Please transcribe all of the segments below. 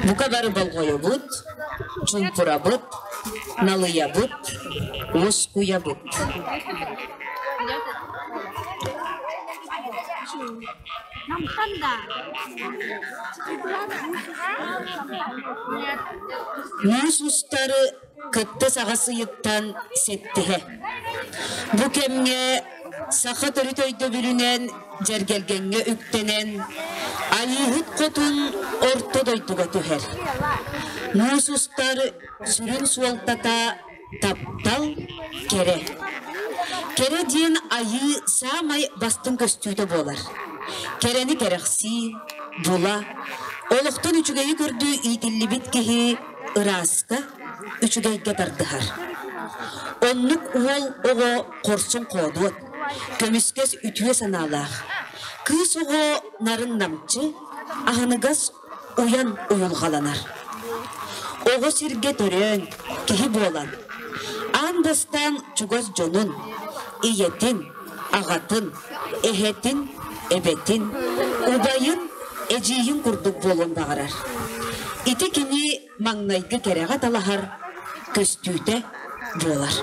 Букадары болҕойобут, чуумпурабыт, налыйабыт, уоскуйабыт. Муус устары кыттыс аҕыс ыйыттан ситтиһэ. Бу кэмҥэ саха төрүт өйдөбүлүнэн дьэргэлгэҥҥэ үктэнэн Айыыһыт хотун орто дойдуга түһэр. Муус устар сүрүн суолтата таптал, кэрэ. Кэрэ диэн айыы саамай бастыҥ көстүүтэ буолар. Кэрэни кэрэхсии, була, олохтон үчүгэйи көрдүү иитиллибит киһи ырааска, үчүгэйгэ тардыһар. Оннук уол оҕо хорсун-хоодуот, көмүскэс үтүө санаалаах. Кыыс оҕо нарын намчы, аһыныгас уйан уйулҕаланар. Оҕо сиргэ төрөөн, киһи буолан, аан бастаан чугас дьонун, ийэтин, аҕатын, эһэтин, эбэтин, убайын, эдьиийин курдук буолуон баҕарар. Ити кини маҥнайгы кэрэҕэ талаһар көстүүтэ буолар.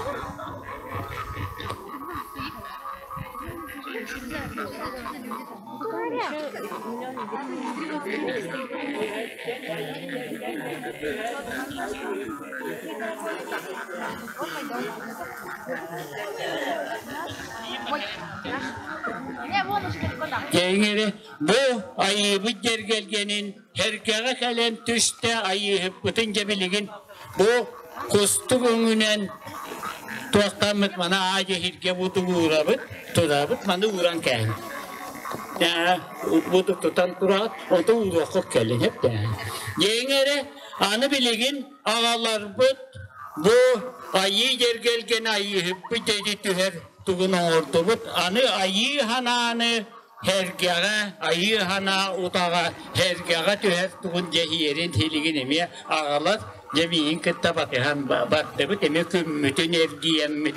Тэҥэри бу айыыбыт дьэргэлгэнин эргэҕэ кэлэн түстэ айыыһыппытын дьэбилигин бу кустук өҥүнэн туохтаммыт мана аадьэһиргэ бу тулуурабыт турабыт маны ууран кээн бу тутан тураат оту ууруоххут кэлин хеп дээҥ дээҥ эрэ аны билигин Аҕаларбыт бу айыы дьэргэлгэн айыыһыппыт эти түһэр тугун оҥордубут. Аны айыы ханааны эргэҕэ, айыы ханаа утаҕа эргэҕэ түһэр тугун дьэһиэрин силигин эмиэ аҕалар дьэ миигин кытта батыһан бардыбыт эмиэ күммүтүн эргийэммит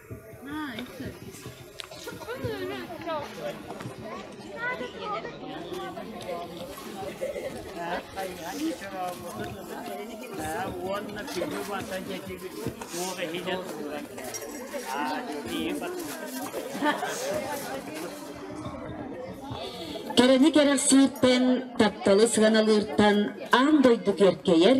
уонна күнү бата дьэдьибит туох иһинэ тууран Кэрэни кэрэхсииртэн, тапталы сыаналыыртан аан дойду киэркэйэр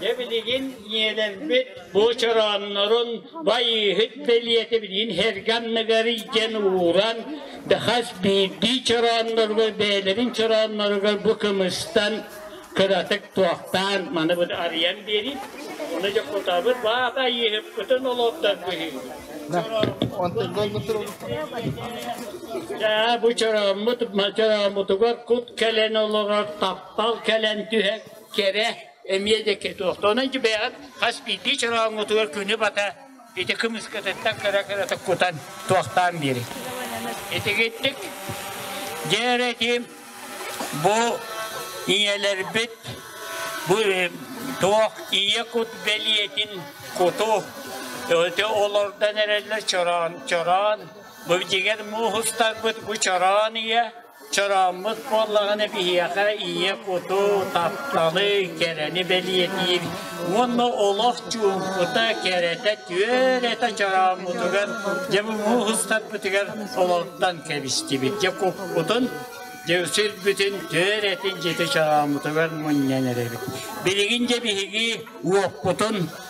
Дьэ билигин ийэлэммит бу чорооннорун байыыһыт бэлиэтэ билигин эргэ анныгар илдьэн ууран хас биирдии чороонноругар бэйэлэрин чороонноругар бу кымыстан кыратык туохтаан маны бу арыйан биэрин Оны дьокутаабыт баата айыыһыппытын олордор быһыы. Даа бу чорооммут чорооммутугар кут кэлэн олорор тап Ол кэлэн түһэ кэрэ эмиэ да кетуох. Онон бэйэҕит хас биирдии чорооҥҥутугар күнү бата ити кымыскытыттан кыра-кырата кутан туохтаан биэриҥ. Итигиттик дьэ эрэ этиим бу ийэлэрбит бу э, туох ийэ кут бэлиэтин куту олордон эрэллэр чороон чороон бу дигэр мууһустарбыт бу чороон ийэ Чорооммут буоллаҕына биһиэхэ ийэ куту, тапталы, кэрэни бэлиэтиир уонна олох чуумпута, кэрэтэ, түөрэтэ чорооммутугар, дьэ муҥуһ ыстарбытыгар олортон кэбистибит. Дьэ куппутун, дьэ сирбитин түөрэтин дьити чорооммутугар мунньан эрэбит. Билигин дьэ биһиги уоппутун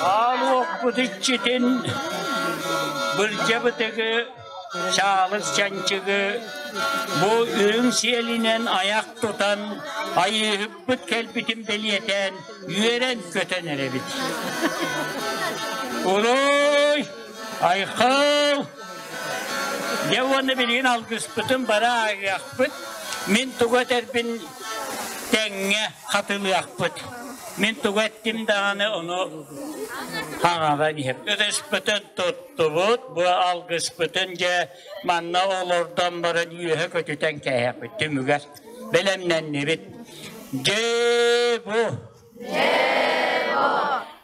Аалуохпут иччитин былдьабытыгы, чаалыс чанчыгы бу үрүҥ сиэлинэн аяқ тутан айыыһыппыт кэлбитин бэлиэтээн үөрэн-көтөн эрэбит. Улуй! Айхал! Дьэ уонна билигин алгыспытын бара агыахпыт. Мин туга этэрбин тэҥҥэ хатылыахпыт. Мин тугу эттим даҕаны ону хаҥаран иһим. Өрөспөтүн туттубут, бу алгыспытын дьэ манна олордон баран үөһэ көтүтэн кээһэппит түмүгэр бэлэмнэннибит. Дьэ бу! Дьэ бу!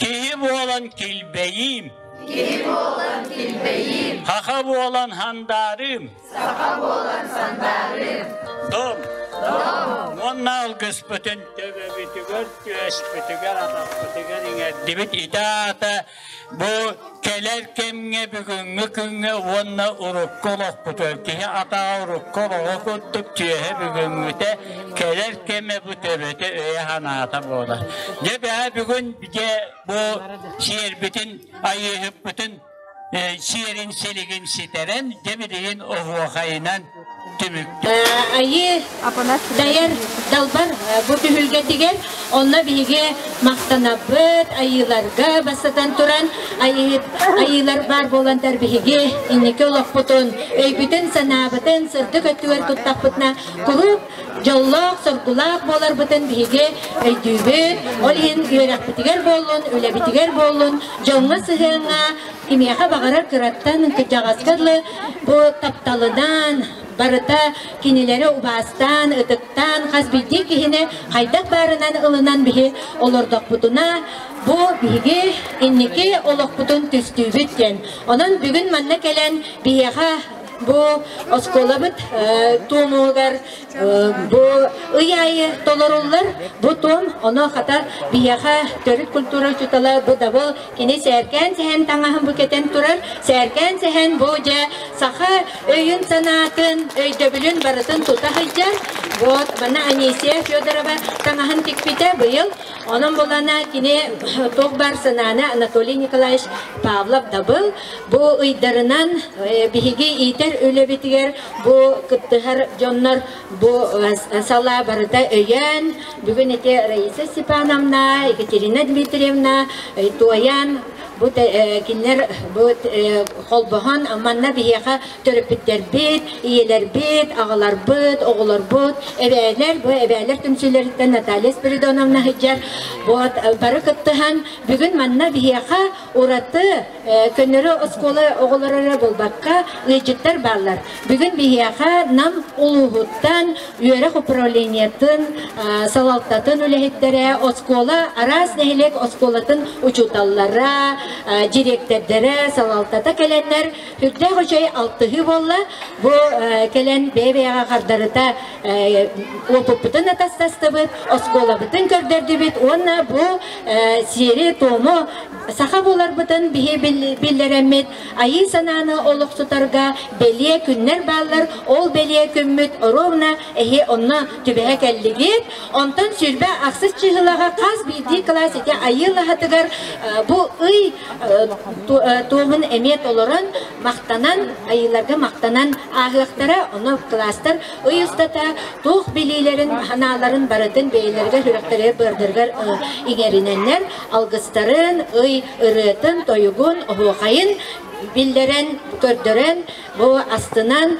Киһи буолан килбэйиим. Киһи буолан килбэйиим. Хаха буолан хандаарыым. Саха буолан сандаарыым. Дом. Дом. Уонна алгыспытын төбөбүтүгэр, түөспүтүгэр, атахпытыгар иҥэрдибит итэ аата бу Кэлэр кэмҥэ бүгүҥҥү күҥҥэ уонна урукку олохпутугар киһи атаҕа урукку олоҕо курдук түөһэ бүгүҥҥүтэ кэлэр кэмэ бу төбөтө өйө-санаата буолар. Дьэ бэҕэ бүгүн дьэ бу сиэрбитин айыыһыппытын сиэрин силигин ситэрэн дьэ билигин оһуохайынан Айыы дайар далбар бу түһүлгэтигэр онно биһиги махтанабыт айыыларга бастатан туран айыылар баар буоландар биһиги инники олохпутун өйбүтүн-санаабытын сырдык өттүгэр туттахпытына куруук дьоллоох соргулаах буоларбытын биһиги өйдүүбүт ол иһин үөрэхпитигэр буоллун үлэбитигэр буоллун дьоҥҥо сыһыаҥҥа Кимиэхэ баҕарар кыраттан кырдьаҕаска дылы бу тапталынан барыта кинилэри убаастаан, ытыктаан хас биирдии киһини хайдах баарынан ылынан биһи олордохпутуна бу биһиги инники олохпутун түстүүбүт диэн. Онон бүгүн манна кэлэн биһиэхэ бу оскуолабыт э, туомугар Бу ый аайы толоруллар бу туом, ону хата биһиэхэ төрүт культура учуутала бу дабыл кини сээркээн сэһэн таҥаһын бу кэтэн турар. Сээркээн сэһэн бу дьэ саха өйүн-санаатын, өйдөбүлүн барытын тута сылдьар. Вот мана Анисия Федорова таҥаһын тикпитэ быйыл. Онон булана кини туох бар санааны Анатолий Николаевич Павлов дабыл бу ыйдарынан биһиги иитэр үлэбитигэр Бу кыттыһар дьоннор бу салаа барыта өйөөн, бүгүн ити Раиса Степановна, Екатерина Дмитриевна туойаан бу кинилэр бу холбоһон манна биһиэхэ төрөппүттэрбит, ийэлэрбит, аҕаларбыт, оҕолорбут, эбээлэр, бу эбээлэр түмсүүлэриттэн Наталья Спиридоновна сылдьар. Вот бары кыттыһан бүгүн манна биһиэхэ ураты Көннөрү оскуола оҕолоро эрэ буолбакка, ыйдьыттар бааллар. Бүгүн биһиэхэ Нам улууһуттан үөрэх управлениетын салалтатын үлэһиттэрэ, оскуола, араас нэһилиэк оскуолатын учууталлара, директордара салалтата кэлэннэр, үрдээх үчэй алтыһыы буолла. Бу кэлэн бэйэ-бэйэҕэ хардарыта уопуппутун атастастыбыт, оскуолабытын көрдөрдүбүт уонна бу сиэри-туому Саха буоларбытын биһи биллэрэммит айыы санааны олохсутарга бэлиэ күннэр бааллар. Ол бэлиэ күммүт ровно эһи онно түбэһэ кэллигит. Онтон сүрбэ ахсыс чыһылаҕа хас биирдии класс ити айыылаһатыгар бу ый туоһун эмиэ толорон махтанан айыыларга махтанан ааһыахтара. Ону класстар ый устата туох билиилэрин, санааларын барытын бэйэлэригэр сүрэхтэригэр быардырыгар иҥэринэннэр алгыстарын, ый ырыатын-тойугун, оһуохайын биллэрэн, көрдөрөн, бу астынан,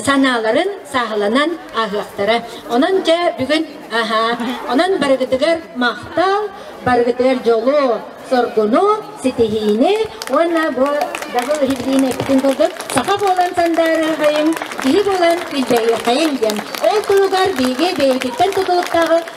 санааларын сааһыланан ааһыахтара. Онон дьэ бүгүн аһаа. Онон барыгытыгар махтал, барыгытыгар дьолу, соргуну, ситиһиини уонна бу дабыл иһиллиини эппитин курдук саха буолан сандаарыахайын, киһи буолан илдьэһиэхайын диэн. Ол туругар биһиги бэйэтиттэн тутулуктааҕы